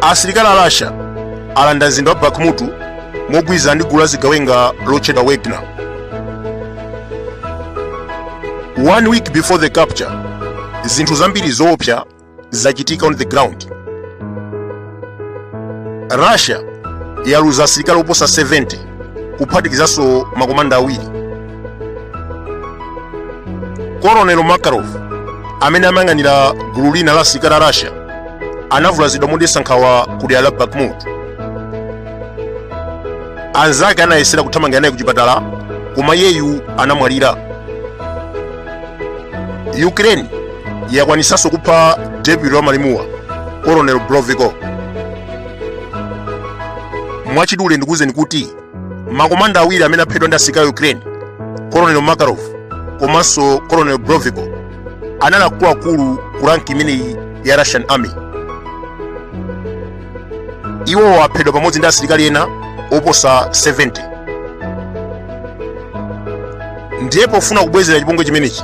asilikali a russia alanda mzinda wa bakhmut mogwirizana ndi gulu la zigawenga lotchedwa wagner one week before the capture zinthu zambiri zoopsa zachitika on the ground russia yaluza asilikali oposa 70 kuphatikizanso makomanda awiri colonel makarov amene amayang'anira gulu lina la asilikali a russia anavulazidwa modetsa nkhawa ku dera la bakhmut anzake anayesera kuthamangira naye ku chipatala koma iyeyu anamwalira ukraine yakwanitsanso kupha deputy wa malimuwa colonel broviko mwachidule ndikuwuzeni kuti makomanda awiri amene aphedwa ndi asilikali a ukraine colonel makarov komanso colonel broviko anali akuluakulu ku rank imeneyi ya russian army iwowo aphedwa pamodzi ndi asilikali ena oposa 70 ndiye pofuna kubwezera chipongwe chimenechi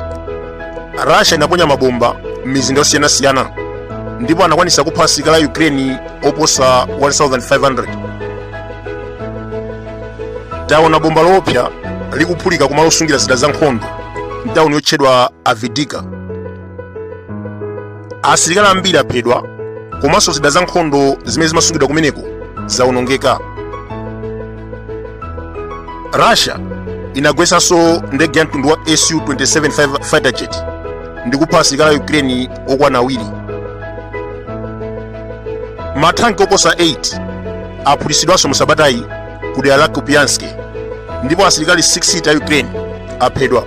russia inaponya mabomba m'mizinda yosiyanasiyana ndipo anakwanisa kupha asilikali a ukraine oposa 1500 taona bomba loopsa likuphulika kumalo osungira zida za nkhondo mtawuni yotchedwa avdiivka asilikali ambiri aphedwa komanso zida za nkhondo zimene zimasungidwa kumeneko zawonongeka russia inagwetsanso ndege ya mtundu wa su-27 fighter jet ndi kupha asilikali a ukraine okwana awiri matanki oposa 8 aphulitsidwanso mu sabatayi ku dera la Kupiansk ndipo asilikali 60 a Ukraine aphedwa.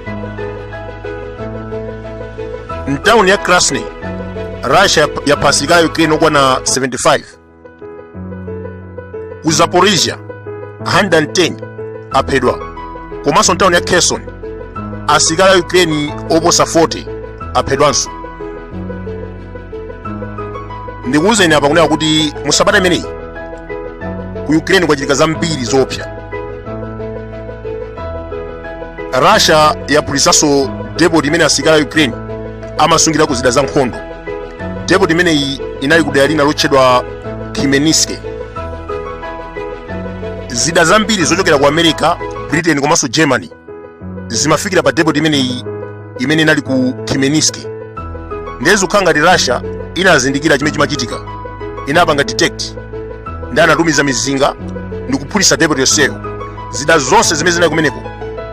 Mtawuni ya Krasny, Russia yapha asilikali a Ukraine okwana 75. Ku Zaporizhia, 110 aphedwa. Komanso mtawuni ya Kherson, asilikali a Ukraine oposa 40 aphedwanso. ndikuwuzeni apa kunena kuti mu sabata imeneyi ku ukraine kwachitika zambiri zoopsa russia yaphulitsanso depot imene asilikali a ukraine amasungirako zida za nkhondo depot imeneyi inali ku dera lina lotchedwa khmelnytskyi zida zambiri zochokera ku america britain komanso germany zimafikira pa depot imeneyi imene inali ku Khmelnytskyi ndiye zikukhala ngati Russia inazindikira chimene chimachitika inapanga detect ndiye anatumiza mizinga ndi kuphulitsa depot yonseyo zida zonse zimene zinali kumeneko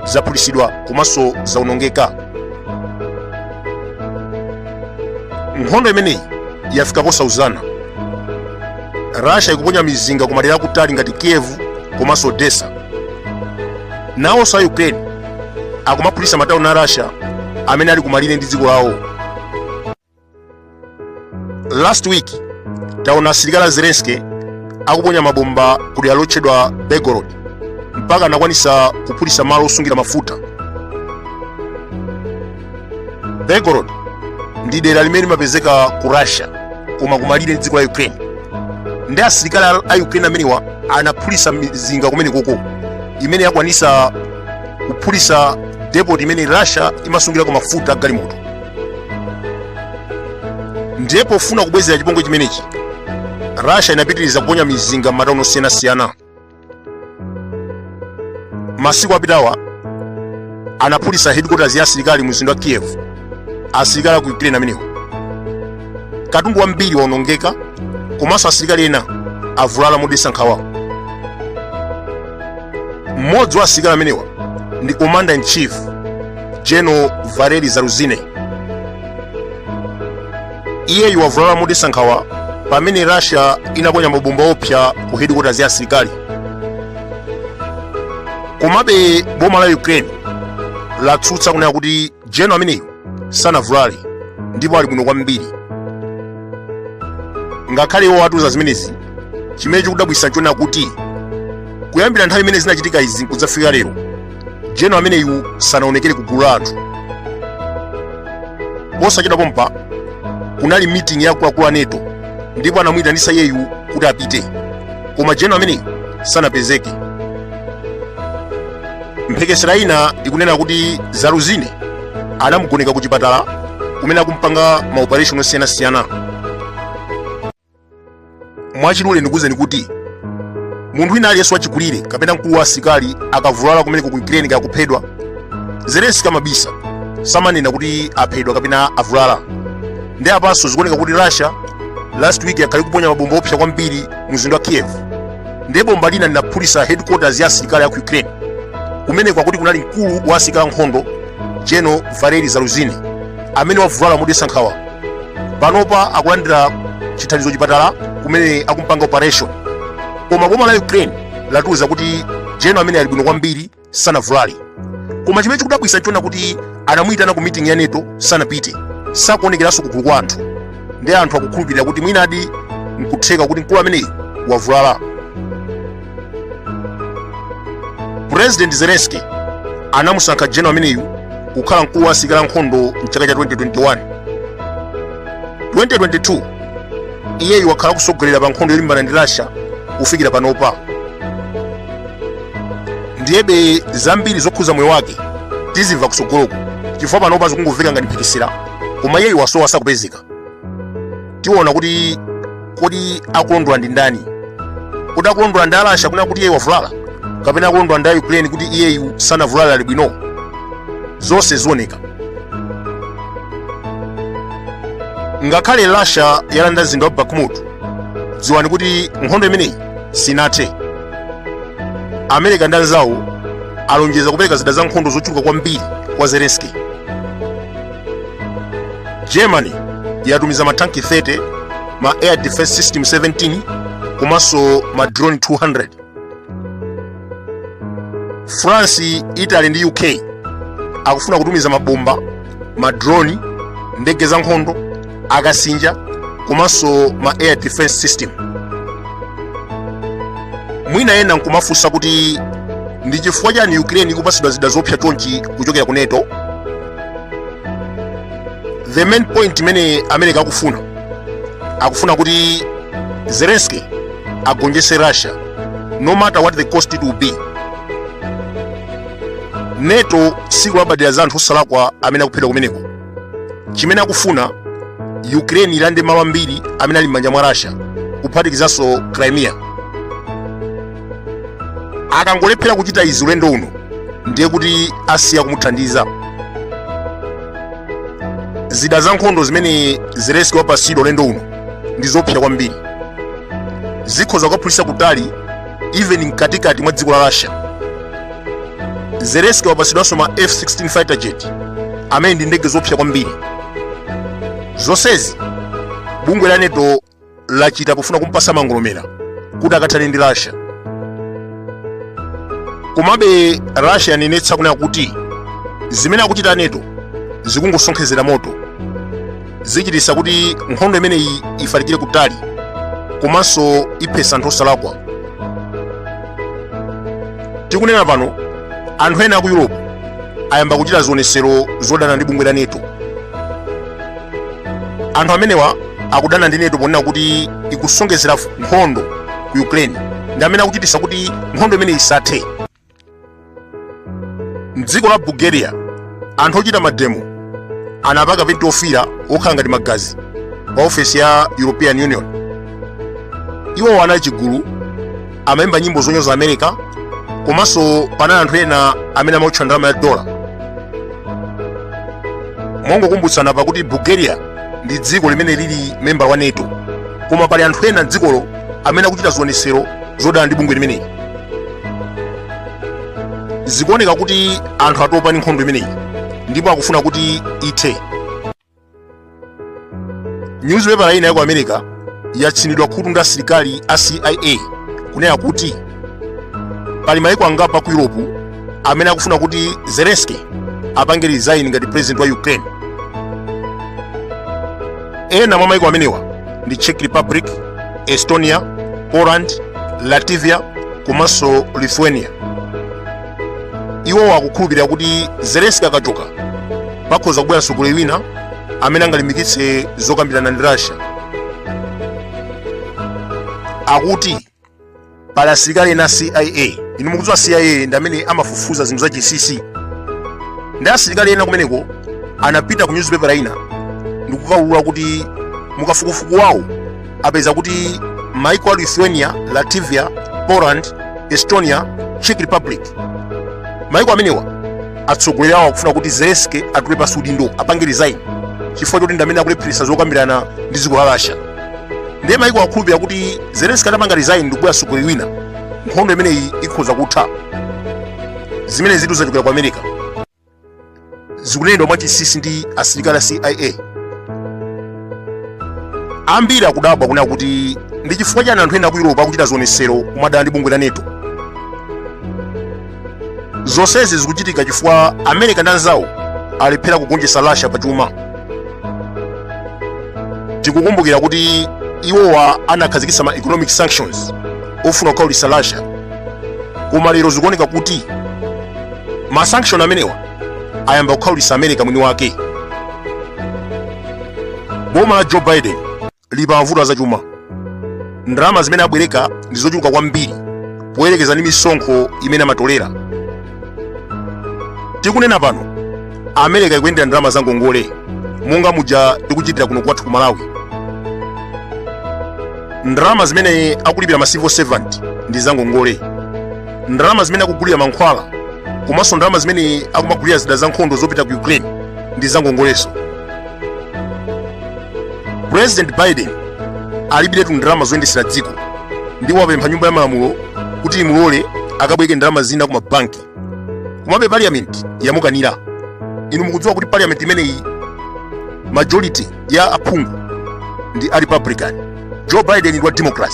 zaphulitsidwa komanso zaonongeka nkhondo imeneyi yafika posauzana Russia ikuponya mizinga ku madera akutali ngati Kiev komanso Odessa nawonso a ukraine akumaphulitsa matauni a russia amene ali kumalire ndi dziko lawo last week taona asilikali a zelensky akuponya mabomba ku dera lotchedwa belgorod mpaka anakwanitsa kuphulitsa malo osungira mafuta belgorod ndi dera limene limapezeka ku russia koma kumalire ndi dziko la ukraine ndiye asilikali a ukraine amenewa anaphulitsa mizinga kumenekoko imene yakwanitsa kuphulitsa depot imene russia imasungirako mafuta a galimoto ndiye pofuna kubwezera chipongwe chimenechi russia inapitiriza kuponya mizinga m'matauni osiyanasiyana masiku apitawa anaphulitsa headquarters ya asilikali mu mzinda wa kiev asilikali aku ukraine amenewo katundu wambiri waonongeka komanso asilikali ena avulala modetsa nkhawa mmodzi wa asilikali amenewa ndi commander in chief general valery zaluzhnyi iyeyu wavulala modetsa nkhawa pamene russia inaponya mabomba oopsa ku headquarters za asilikali komabe boma la ukraine latsutsa kunena kuti general ameneyu sanavulale ndipo ali bwino kwambiri ngakhale iwo atsutsa zimenezi chimene chikudabwitsa nchonena kuti kuyambira nthawi imene zinachitika izi kudzafika lero general ameneyu sanaonekere ku gulu la anthu posachedwa pompa kunali meeting ya akuluakulu a nato ndipo anamuyitanitsa iyeyu kuti apite koma general ameneyu sanapezeke mphekesera ina ikunena kuti zaluzhnyi anamugoneka ku chipatala kumene akumpanga maoperation osiyanasiyana mwachidule ndikuwuzeni kuti munthu wina aliyense wachikulire kapena mkulu wa asilikali akavulala kumeneko ku ukraine kaya kuphedwa zelensky amabisa samanena kuti aphedwa kapena avulala ndiye apanso zikuoneka kuti russia last week yakhala ikuponya mabomba oopsa kwambiri mu mzinda wa kiev ndiye bomba lina linaphulitsa headquarters ya asilikali aku ukraine kumeneko akuti kunali mkulu wa asilikali ankhondo general valery zaluzhnyi amene wavulala modetsa nkhawa panopa akulandira chithandizo chipatala kumene akumpanga operation koma boma la ukraine latiuza kuti general amene ali bwino kwambiri sanavulale koma chimene chikudabwisa nchonena kuti anamuyitana ku meeting ya nato sanapite sakuonekeranso kugulu kwa anthu ndi anthu akukhulupirira kuti mwinadi nkutheka kuti mkulu ameneyi wavulala purezidenti zelenski anamusankha general ameneyu kukhala mkulu wa asilikali ankhondo mchaka cha 2021 2022 iyeyu wakhala kusogolela pa nkhondo yolimbana ndi russia kufikira panopa ndiyebe zambiri zokhuza moyo wake tizimva kusogoloku chifukwa panopa zikungomveka ngati mphekesera koma iyeyu wasowa sakupezeka tiona kuti kodi akulondola ndi ndani kodi akulondola ndi a russia kunena kuti iyeyu wavulala kapena akulondola ndi ukraine kuti iyeyu sanavulala ali bwino zonse zioneka ngakhale russia yalanda mzinda wa bakhmut dziwani kuti nkhondo imeneyi sinathe america ndi anzawo alonjeza kupereka zida za nkhondo zochuluka kwambiri kwa zelenski germany yatumiza matanki 30 ma air defense system 17 komanso ma drone 200 france italy ndi uk akufuna kutumiza mabomba ma drone ndege za nkhondo akasinja komanso ma air defense system mwina ena nkumafunsa kuti ndi chifukwa chani ukraine ikupatsidwa zida zopsa chonchi kuchokera ku nato the main point imene america akufuna akufuna kuti zelensky agonjese russia no matter what the cost it will be nato sikulabadira za anthu osalakwa amene akuphedwa kumeneko chimene akufuna ukraine ilande malo ambiri amene ali m'manja mwa russia kuphatikizanso crimea akangolephera kuchita izi ulendo uno ndiye kuti asiya kumuthandiza zida za nkhondo zimene zelenski wapatsidwa ulendo uno ndi zophsya kwambiri zikhoza kukaphulitsa kutali even mkatikati mwa dziko la russia zelenski wapatsidwanso ma f16 fighter jet amene ndi ndege zophsya kwambiri zonsezi bungwe la nato lachita pofuna kumpasa mangolomera kuti akathane ndi russia komabe russia yanenetsa kunena kuti zimene akuchita nato zikungosonkhezera moto zichititsa kuti nkhondo imeneyi ifalikire kutali komanso iphesa anthu osalakwa tikunena pano anthu ena aku europe ayamba kuchita zionetsero zodana ndi bungwe la nato anthu amenewa akudana ndi nato ponena kuti ikusongezera nkhondo ku ukraine ndi amene akuchititsa kuti nkhondo imeneyi isathe mdziko la bulgaria anthu ochita mademo anapaka penti ofira okhala ngati magazi pa ofesi ya european union iwowo anali chigulu amaimba nyimbo zonyoza america komanso panali anthu ena amene amaotcha ndalama ya dola mongokumbutsana pakuti bulgaria ndi dziko limene lili memba wa nato koma pali anthu ena mdzikolo amene akuchita zionetsero zodana ndi bungwe limeneli zikuoneka kuti anthu atopa ndi nkhondo imeneyi ndipo akufuna kuti ithe nyuzipepala ina ya ku america yatsinidwa khutu ndi asilikali a cia kunena kuti pali maiko angapo ku europe amene akufuna kuti zelenski apange resign ngati president wa ukraine ena mwa maiko amenewa ndi czech republic estonia poland latvia komanso lithuania iwowo akukhulupirira kuti zelenski akachoka pakhoza kubwera mtsogoleri wina amene angalimbikitse zokambirana ndi russia akuti pali asilikali ena a cia inu mukudziwa cia ndi amene amafufuza zinthu zachinsinsi ndiye asilikali ena kumeneko anapita ku nyuzipepala ina ndikukaulula kuti mukafukufuku wawo apeza kuti maiko a lithuania latvia poland estonia czech republic maiko amenewa atsogoleri awo akufuna kuti zelenski atule pansi udindo apange resign chifukwa choti ndamene akulepheretsa zokambirana ndi dziko la russia ndiye maiko akukhulupirira kuti zelenski atapanga resign ndikubwera mtsogoleri wina nkhondo imeneyi ikhoza kutha zimenezitu zachokera ku america zikunenedwa mwachinsinsi ndi asilikali a cia ambiri akudabwa kunena kuti ndi chifukwa chani anthu ena ku yuropa akuchita zionetsero kumadana ndi bungwe la nato zonsezi zikuchitika chifukwa america ndi anzawo alephera kugonjetsa russia pa chuma tikukumbukira kuti iwowa anakhazikitsa ma economic sanctions ofuna kukhaulitsa russia koma lero zikuoneka kuti ma sanction amenewa ayamba kukhaulitsa america mwini wake boma la joe biden lili pa mavuto azachuma ndalama zimene abwereka ndi zochuluka kwambiri poyerekeza ndi misonkho imene amatolera tikunena pano america ikuyendera ndalama za ngongole monga muja tikuchitira kuno kwathu ku malawi ndalama zimene akulipira ma civil servant ndi za ngongole ndalama zimene akugulira mankhwala komanso ndalama zimene akumagulira zida za nkhondo zopita ku ukraine ndi zangongoleso president biden alibiretu ndalama zoyendesera dziko ndipo wapempha nyumba ya malamulo kuti imulole akabwereke ndalama zina ku mabanki komabe parliament yamukanira inu mukudziwa kuti parliament imeneyi majority ya aphungu ndi a republican joe biden ndi wa democrat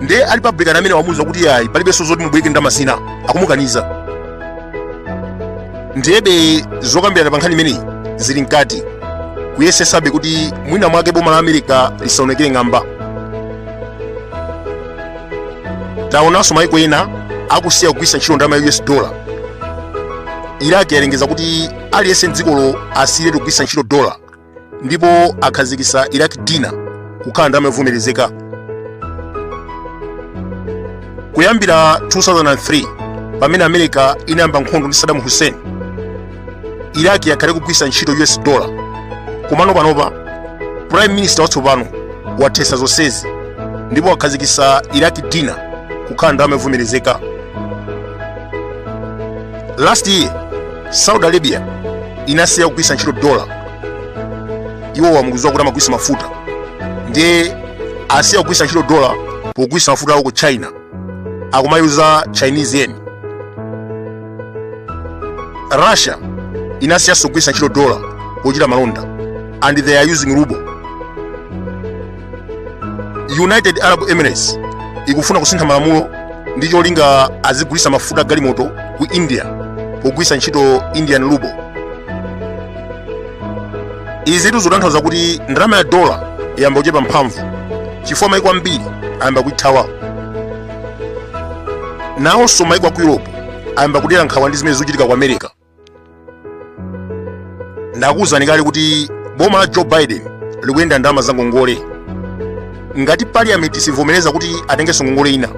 ndiye a republican amene wamuuza kuti yayi palibenso zoti mubwereke ndalama zina akumukaniza ndiyebe zokambirana pa nkhani imeneyi zili mkati kuyesesabe kuti mwina mwake boma la america lisaonekere ng'amba taonanso maiko ena akusiya kugwiritsa ntchito ndalama ya us dollar iraq yalengeza kuti aliyense mdzikolo asiyiretu kugwiritsa ntchito dollar ndipo akhazikisa iraq dinar kukhala ndalama yovomerezeka kuyambira 2003 pamene america inayamba nkhondo ndi saddam hussein iraq yakhala ikugwiritsa ntchito us dollar komano panopa prime minister watsopano wathetsa zonsezi ndipo wakhazikisa iraq dinar kukhala ndalama yovomerezeka last year saudi arabia inasiya kugwiritsa ntchito dola iwo mukuziwa kuti amagulitsa mafuta ndiye asiya kugwiritsa ntchito dola pogulitsa mafuta awo ku china akumayuza chinese yen russia inasiyanso kugwiritsa ntchito dola pochita malonda and they are using ruble united arab emirates ikufuna kusintha malamulo ndi cholinga azigulisa mafuta a galimoto ku india pogwisa ntchito indian ruble izitu zikutanthauza kuti ndalama ya dola yayamba kuchepa mphamvu chifukwa maiko ambiri ayamba kuithawa nawonso maiko a ku europe ayamba kudera nkhawa ndi zimene zikuchitika ku america ndakuwuzani kale kuti boma la joe biden likuyendera ndalama za ngongole ngati parliament sivomereza kuti atengenso ngongole ina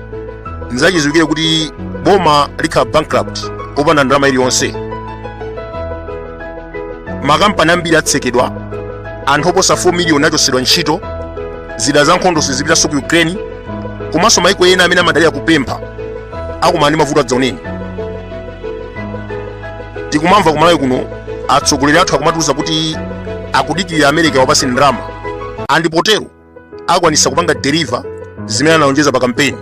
nzachidziwikire kuti boma likhala bankrupt opanda ndalama iliyonse makampani ambiri atsekedwa anthu oposa 4 miliyoni achotsedwa ntchito zida za nkhondo sizipitanso ku ukraine komanso maiko ena amene amadalira kupempha akumana ndi mavuto adzaoneni tikumamva kumalawi kuno atsogoleri athu akumatiuza kuti akudikirira america iwapatse ndalama ndipo potero akwanisa kupanga deliver zimene analonjeza pa kampeni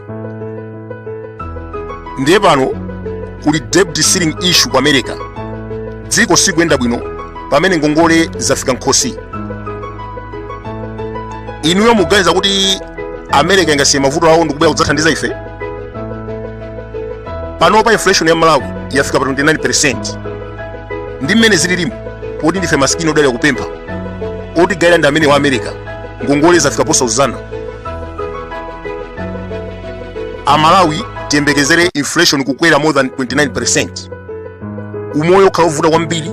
ndiye pano kuli debt ceiling issue ku america dziko sikuyenda bwino pamene ngongole zafika mkhosi inuyo mukuganiza kuti america ingasiye mavuto awo ndikubwera kudzathandiza ife panopa inflation ya malawi yafika pa 29 ndi mmene zililimu poti ndife masikini odalira kupempha oti gaila ndi amene wa america ngongole zafika posauzana amalawi tiyembekezere inflation kukwera more than 29 umoyo ukhala ovuta kwambiri